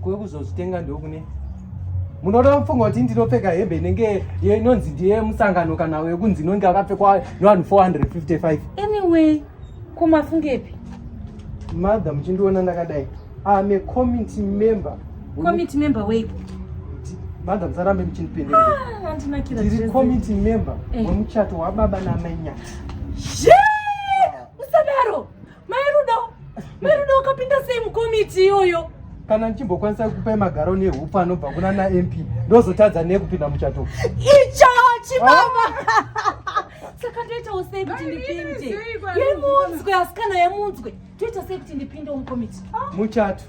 kwekuzozvitenga ndokune munoda kufunga kuti ndinopfeka hembe inenge inonzi ndiye musangano kana wekunzi inonge akapfekwa nevanhu 455 anyway kumafungepi mother muchindiona ndakadai am a committee member committee member weiko mother musarambe muchindipendeaandinakirairi ah, committee member eh. wemuchato wababa namainyati usadaro Mairudo, Mairudo wakapinda sei mukomiti iyoyo? Kana ndichimbokwanisa kukupai magaro nehupo anobva kuna naMP ndozotadza nekupinda muchato. Icho chibaba. Ah. Saka ndoitawo sei kuti ndipinde? Yemunzwe asikana yemunzwe. Ndoita sei kuti ndipinde mukomiti? Muchato.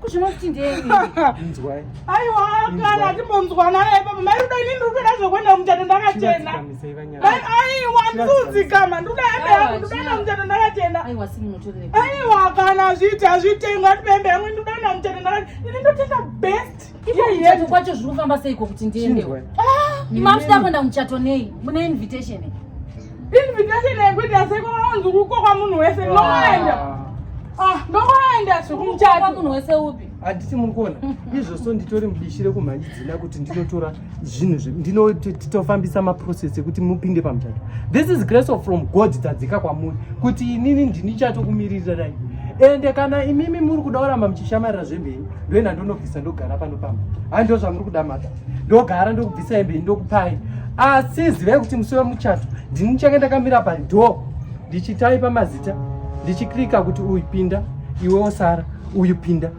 kuzvinoti ndei nzwai aiwa kana atimbonzwana ipapo mai rudo inini rudoda zvokuenda kumuchato ndakachena aiwa ndikuudzikama nduda hembe yangu ndudaenda kumuchato ndakachena aiwa kana zviiti hazvitengwa ndibembe yangu ndudaenda kumuchato ndakachena ini ndotenga best Ipaizvatu kwacho zviri kufamba seiko kuti ndiendewo. Ah, Imams dako ndamuchato nei? Mune invitation. Invitation yekuti aseko wanzi kuko kwa munhu wese ndoenda. Ah, ndoenda zvekumuchato. Kwa munhu wese upi? Handiti muri kuona? Izvozvo nditori mudishire kumhanyidzina kuti ndinotora zvinhu zve ndinotofambisa maprocess ekuti mupinde pamuchato this is grace of from god dzadzika kwamuri kuti inini ndini chatokumirirai ende kana imimi muri kuda kuramba muchishamarira zvemheni ndoenda ndonobvisa ndogara pano pamba handiwo zvamuri kuda mata ndogara ndokubvisa emheni ndokupai asi zivai kuti musi wemuchato ndini ndichange ndakamira padoo ndichitaipa mazita ndichiklika kuti uyu pinda iwe osara uyu pinda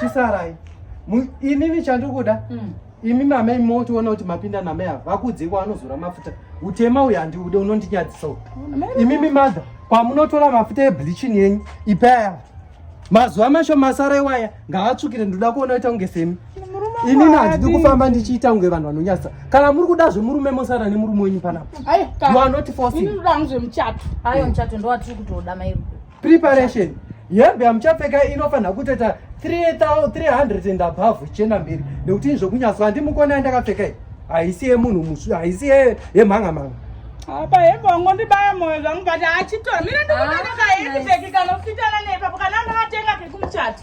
chisarai inini chandikuda mm. imi mamai motiona kuti mapinda namai ava vakudzikwa anozora mafuta utema uyu handiude unondinyadzisa u imimi madha kwamunotora mafuta ebleaching yenyu ipaya mazuva masho masara iwaya ngaatsvukire ndinoda kuona ita kunge semi inini handidi kufamba ndichiita kunge vanhu vanonyadzisa kana muri kuda zvemurume mosara nemurume wenyu panapa you are not forcing preparation hembe yamuchapfeka inofanira kutoita 300 and above chena mbiri nekuti izvo kunyaswa ndimukona yandakapfeka iyi haisi yemunhu musvi haisi yemhanga mhanga apa hembe wangondibaya moyo zvangu but achitora mira ndikuaa kahendibeki kanofitana nepapo kana ndakatenga kekumuchato